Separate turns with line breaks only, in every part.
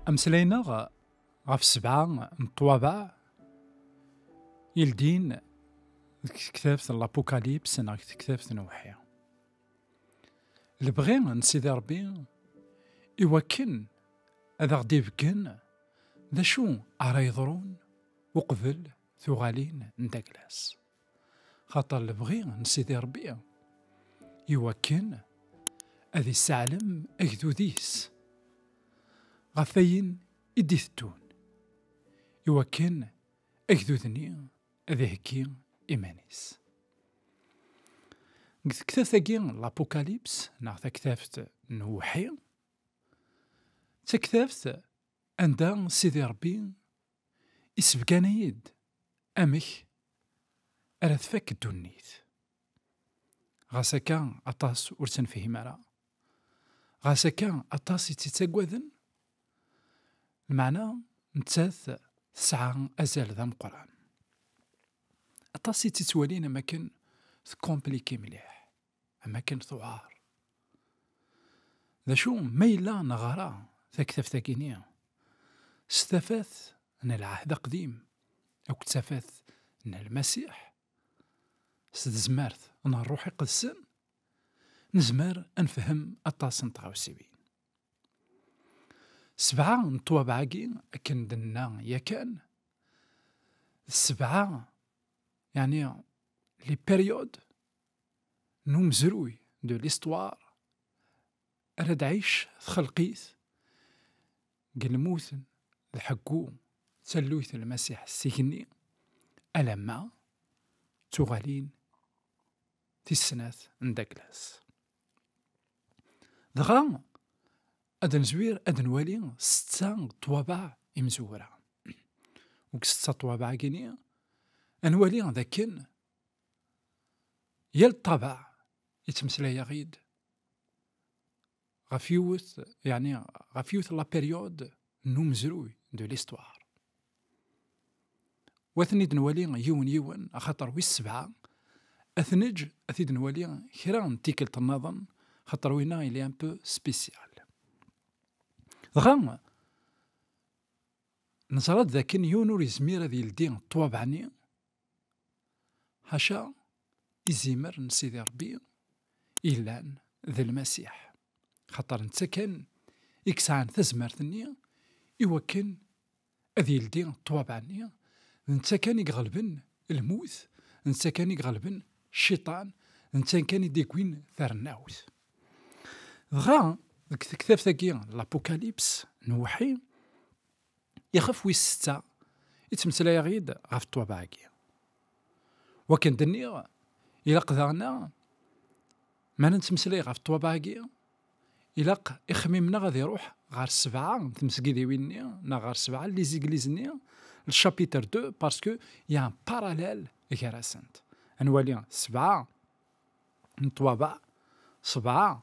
Ameslayneɣ ɣef sebɛa n ṭwabaɛ ildin deg tektabt n l'Apocalypse neɣ deg tektabt n Uḥi. Lebɣi n Sidi Rebbi i wakken ad aɣ-d-ibeggen d acu ara yeḍrun uqbel tuɣalin n taglas xaṭer lebɣi n sidi rebbi iwakken ad isseɛlem agdud-is ɣef ayen i d-itettun iwakken agdud-nni ad iheggi iman-is deg tektabt-agi l'apocalypse neɣ taktabt n uwḥi d taktabt Anda Sidi Ṛebbi isebgan-iyi-d amek ara tfak ddunit. Ɣas akka aṭas ur tt-nefhim ara. Ɣas akka aṭas i tt-ittaggaden. Lmeɛna nettat tesɛa azal d ameqqran. Aṭas i tt-ittwalin am akken tecompliquer mliḥ. amakken tuɛar. D acu ma yella neɣra taktabt-agi-ni s tafat n Lɛehd Aqdim akked tafat n Lmasiḥ, s tezmert n Ṛṛuḥ Iqedsen, nezmer ad nefhem aṭas n tɣawsiwin. Sebɛa n ṭṭwabeɛ-agi, akken d-nenna yakan, d sebɛa, yeɛni les périodes, n umezruy de l'histoire ara d-ɛic txelqit deg lmuten d ḥeggu d talluyt n Lmasiḥ s igenni alamma d tuɣalin tis snat n Daglas. Dɣa ad nezwir ad nwali setta n ṭṭwabaɛ imezwura. Deg setta n ṭṭwabaɛ-agi ad nwali d akken yal ṭṭabeɛ yettmeslay-aɣ-id ɣef yiwet yeɛni ɣef yiwet la période n umezruy de l'histoire wa ten-id nwali yiwen yiwen axaṭer wis sebɛa ad ten-eǧ ad t-id nwali kra n tikkelt nnaḍen xaṭer winna il est un peu spécial dɣa neẓra-d dakken yiwen ur yezmir ad yeldi ṭṭwabeɛ-nni Ḥaca izimer n Sidi Ṛebbi yellan d Lmasiḥ, xaṭer netta kan i yesɛan tazmert-nni i wakken ad yeldi ṭṭwabaɛ-nni, d netta kan i iɣelben lmut, d netta kan i iɣelben Cciṭan, d netta kan i d-yewwin tarennawt. Dɣa deg tektabt-agi n Lapukalypse n Uwḥi, Ixef wis setta i ttmeslayeɣ yid ɣef ṭṭwabeɛ-agi. Wakken d-nniɣ, ilaq daɣen-a, mi ara nettmeslay ɣef ṭṭwabeɛ-agi, ilaq ixmim-nneɣ ad iruḥ ɣer sebɛa n tmesgidiwin-nni neɣ ɣer sebɛa n lizigliz-nni, le chapitre 2, parce que y a un parallèle gar-asent. Ad nwali sebɛa n ṭṭwabeɛ, sebɛa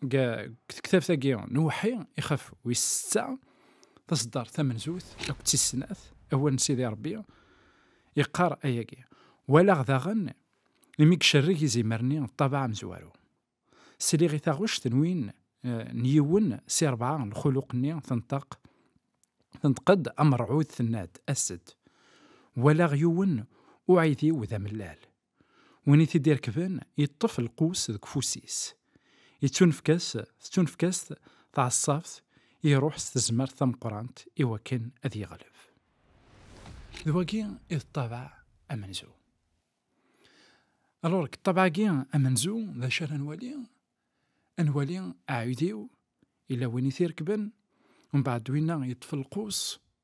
tektabt-agi n uweḥḥi ixef wis setta taseddart tamenzut akked d tis snat awal n Sidi Ṛebbi yeqqar ayagi walaɣ daɣen imi icerreg izimer-nni ṭṭabaɛ amezwaru sliɣ i taɣect n win eh, n yiwen si rebɛa lxuluq-nni tenṭeq tenṭeq-d amerɛud tenna-d as-d walaɣ yiwen uɛidiw d amellal Win i t-id-irekben yeṭṭef lqus deg ufus-is. Yettunefk-as tettunefk-as tɛeṣṣabt, iruḥ s tezmert tameqqrant i wakken ad yeɣleb. D wagi i d ṭṭabaɛ amenzu. Alors, deg ṭṭabaɛ-agi amenzu, d acu ara nwali? Ad nwali aɛudiw, yella win i t-irekben, mbeɛd winna yeṭṭef lqus,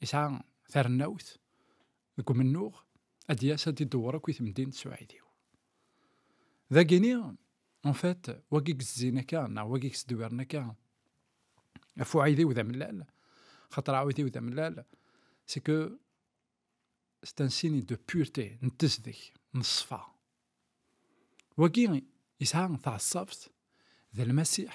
Yesɛa tarennawt deg umennuɣ ad d-yas ad d-idewwer akk i temdint s uɛidiw. Dagini, en fait, wagi yezzin akka, neɣ wagi yesdewwiren akka, ɣef uɛidiw d amellal, xaṭer aɛidiw d amellal, c'est que c'est un signe de pureté, n tezdeg, n ṣṣfa. Wagi yesɛa taɛeṣṣabt d lmasiḥ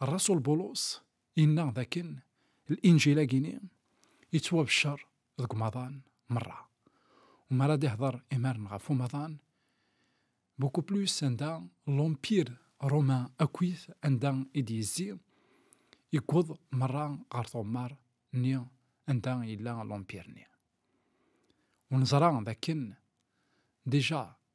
Rrasul Bulus yenna dakken Linjil-agi-ni yettwabeccer deg umaḍan merra. Wumi ara d-ihder imaren ɣef umaḍan? Beaucoup plus anda l'Empire romain akkit anda i d-yezzi, yewweḍ merra ɣer tɣemmar nni anda yella l'Empire-nni. Ur neẓra dakken déjà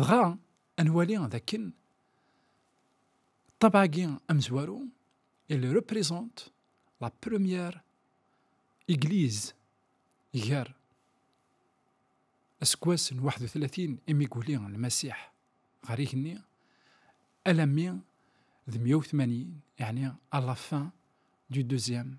Dɣa ad nwali d akken ṭṭabɛa-agi amezwaru, il représente la première église gar aseggas n waḥed u tlatin imi i yuli Lmasiḥ ɣer igenni alammi d mya u tmanyin, yeɛni à la fin du deuxième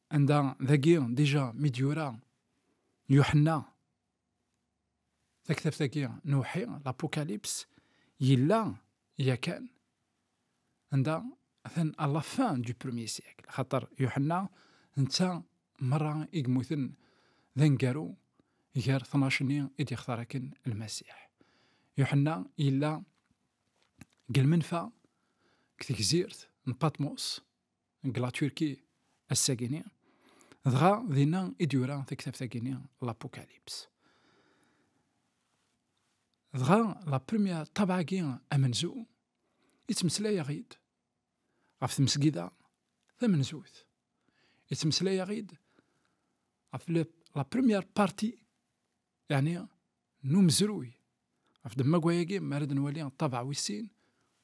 Anda dagi dija mi d-yura Yuḥenna taktabt-agi n uwḥi, l'apocalypse, yella yakan anda atan à la fin du premier siècle. Xaṭer Yuḥenna netta merra i yemmuten d aneggaru gar tnac-nni i d-yextar akken Lmasiḥ. Yuḥenna yella deg lmenfa deg tegzirt n Patmos deg la Turquie ass-agini, dɣa dinna i d-yura taktabt-agini l'Apocalypse. Dɣa la première tabagi amenzu yettmeslayaɣ-id ɣef tmesgida tamenzut. Yettmeslayaɣ-id ɣef la première partie, yani n umezruy. Ɣef ddemma-agi, mi ara d-nwali ṭṭabeɛ wis sin,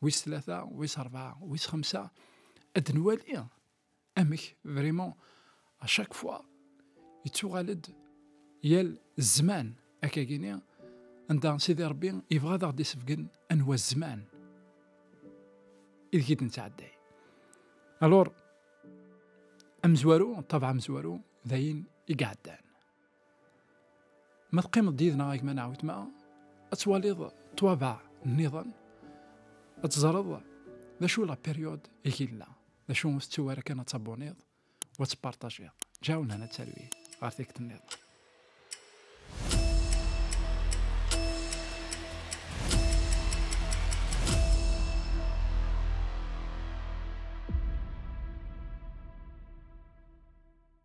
wis tlata, wis rebɛa, wis xemsa, ad d-nwali amek vraiment à chaque fois yettuɣal-d yal zzman akagini anda Sidi Rebbi yebɣa ad aɣ-d-isebgen anwa zzman ideg i d-nettɛedday. Alors, amezwaru, ṭṭabeɛ amezwaru, d ayen i iɛeddan. Ma teqqimeḍ-d yid-neɣ a gma neɣ wetma, ad twaliḍ ṭwabaɛ nniḍen, ad teẓreḍ d acu la période i yella, d acu ur tettu ara kan ad taboniḍ u ad tpartajiḍ. Ǧaw nehna talwit ɣer tikkelt nniḍen.